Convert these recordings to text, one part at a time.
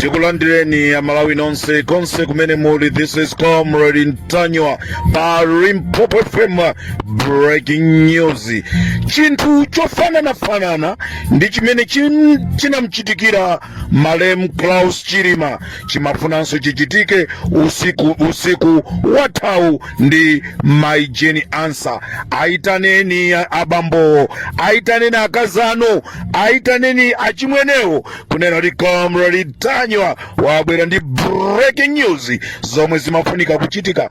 tikulandireni amalawi nonse konse kumene muli this is comrade ntanywa pa limpopo fm breaking news chinthu chofananafanana ndi chimene chinamchitikira malemu Saulos Chilima chimafunanso chichitike usiku wathawu ndi Mai Jane Ansah. Ayitaneni abambowo, ayitaneni akazi anu, ayitaneni achimwenewo kunena kuti Comrade Ntanywa wabwera ndi breaking news zomwe zimafunika kuchitika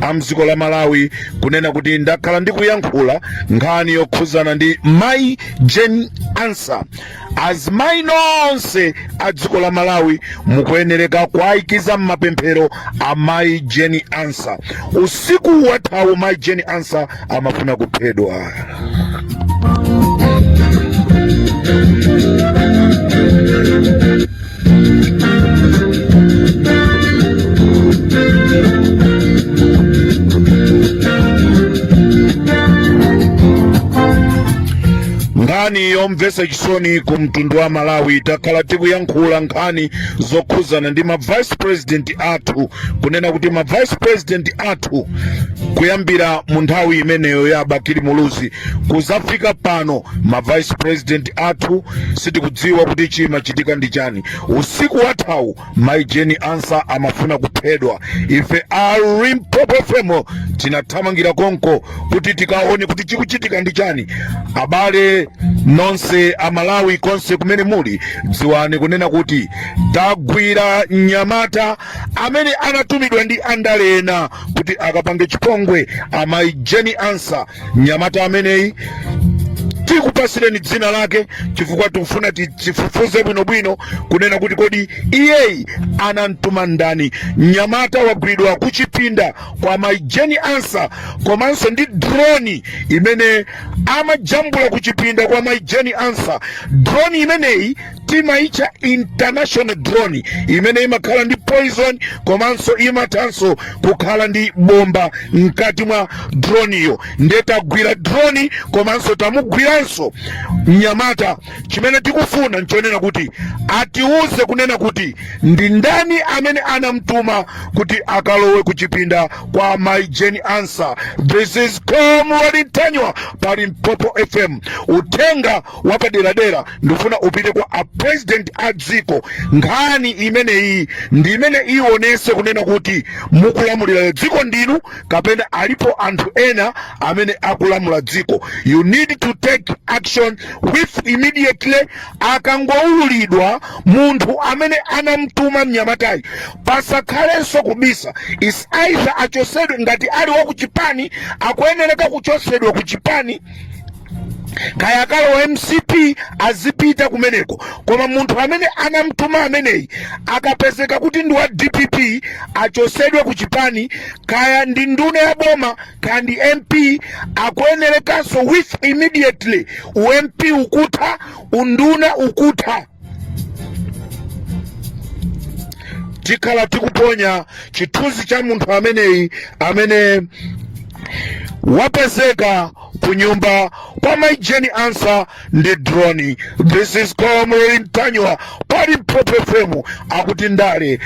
a mdziko la malawi kunena kuti ndakhala ndikuyankhula nkhani yokhuzana ndi mai jane ansah azimayi nonse a dziko la malawi mukuyenereka kuayikiza mmapemphero a mai jane ansah usiku wathawu mai jane ansah amafuna kuphedwa nkhani yomvetsa chisoni ku mtundu wa malawi takhala tikuyankhula nkhani zokhuzana ndi ma vice president athu kunena kuti ma vice president athu athu kuyambira mu nthawi imeneyo ya bakili muluzi kuzafika pano ma vice president athu sitikudziwa kuti chimachitika ndi chani usiku wathawu mai jane ansah amafuna kuphedwa ife a limpopo fm tinathamangira konko kuti tikaone kuti chikuchitika ndi chani abale nonse amalawi konse kumene muli dziwani kunena kuti tagwira mnyamata amene anatumidwa ndi andale ena kuti akapange chipongwe a mayi Jane Ansah mnyamata ameneyi tikupasireni dzina lake chifukwa tikufuna tifufuze bwinobwino kunena kuti kodi iyeyi anamtuma ndani mnyamata wagwidwa kuchipinda kwa mayi Jane Ansah komanso ndi droni imene amajambula kuchipinda kwa mayi Jane Ansah droni imeneyi timaitcha international drone imene imakhala ndi poison komanso imathanso kukhala ndi bomba mkati mwa droniyo nde tagwira droni komanso tamugwiranso mnyamata chimene tikufuna nchonena kuti atiuze kunena kuti ndi ndani amene anamtuma kuti akalowe kuchipinda kwa mai jane ansah this is comrade ntanywa pa limpopo fm uthenga wapaderadera ndikufuna upite kwa a president a dziko nkhani imeneyi ndi imene ionese kunena kuti mukulamulira dziko ndinu kapena alipo anthu ena amene akulamula dziko you need to take action with immediately akangoululidwa munthu amene anamtuma mnyamatayi pasakhalenso kubisa is either achosedwe ngati ali wakuchipani akuyenereka kuchosedwa kuchipani kaya akalowa mcp azipita kumeneko koma munthu amene anamtuma ameneyi akapezeka kuti ndi wa dpp achosedwe ku chipani kaya ndi nduna ya boma kaya ndi mp akuyenerekanso with immediately u mp ukutha unduna ukutha tikhala tikuponya chithunzi cha munthu ameneyi amene wapezeka kunyumba kwa mai jane ansah ndi drone this is comrade ntanyiwa pa limpopo fm akuti ndale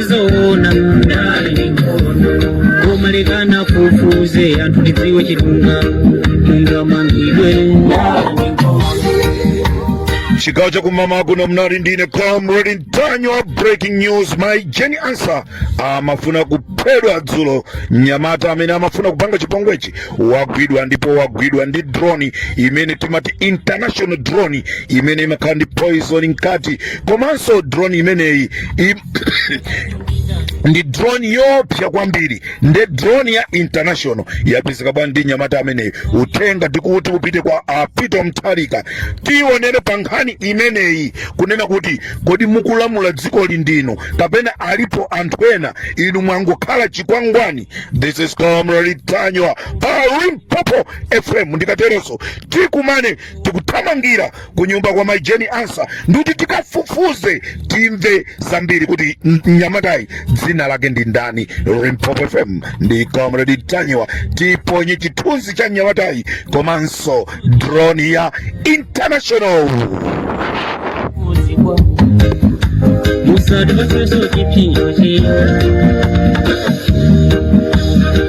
zoona ndale ndi nkhondo koma lekani afufuze anthu tidziwe chilungamo ungamangidwe ndale ndi nkhondo chigawo chakummawa kuno munali ndi ine comrade ntanyiwa breaking news mai jane ansah amafuna kuphedwa dzulo mnyamata amene amafuna kupanga chipongwechi wagwidwa ndipo wagwidwa ndi drone imene timati international drone imene imakhala ndi poison mkati komanso drone imeneyi im- ndi drone yoopsa kwambiri nde drone ya international yapezeka bwanji ndi mnyamata ameneyi uthenga ndikuti upite kwa a peter mutharika tionere pa nkhani imeneyi kunena kuti kodi mukulamula dzikoli ndinu kapena alipo anthu ena inu mwangokhala chikwangwani this is comrade ntanyiwa pa limpopo fm ndikateronso tikumane tikuthamangira kunyumba kwa mai jane ansah ndikuti tikafufuze timve zambiri kuti m- mnyamatayi dzina lake ndi ndani limpopo fm ndi comrade ntanyiwa tiponye chithunzi cha mnyamatayi komanso drone ya international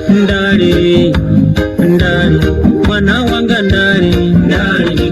ndale ndale mwana wanga ndale ndale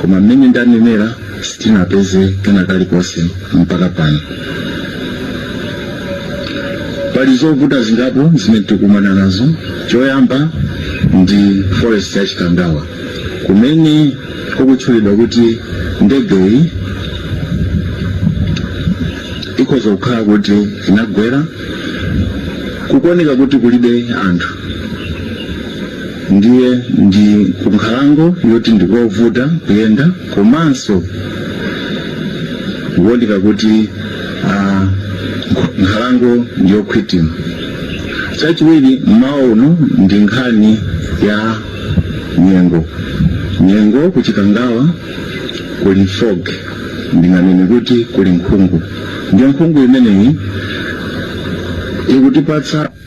koma mmene ndanenera sitinapeze kena kalikonse mpaka pano pali zovuta zingapo zimene tikumana nazo choyamba ndi forest ya chikangawa kumene kukutchulidwa kuti ndegeyi ikhoza kukhala kuti inagwera kukuoneka kuti kulibe anthu ndiye ndi kunkhalango yoti ndikovuta kuyenda komanso ikuoneka kuti ah, nkhalango ndiyokhwitima chachiwiri mmawa uno ndi nkhani ya nyengo nyengo kuchikangawa kuli fog ndinganene kuti kuli nkhungu ndiye nkhungu imeneyi ikutipatsa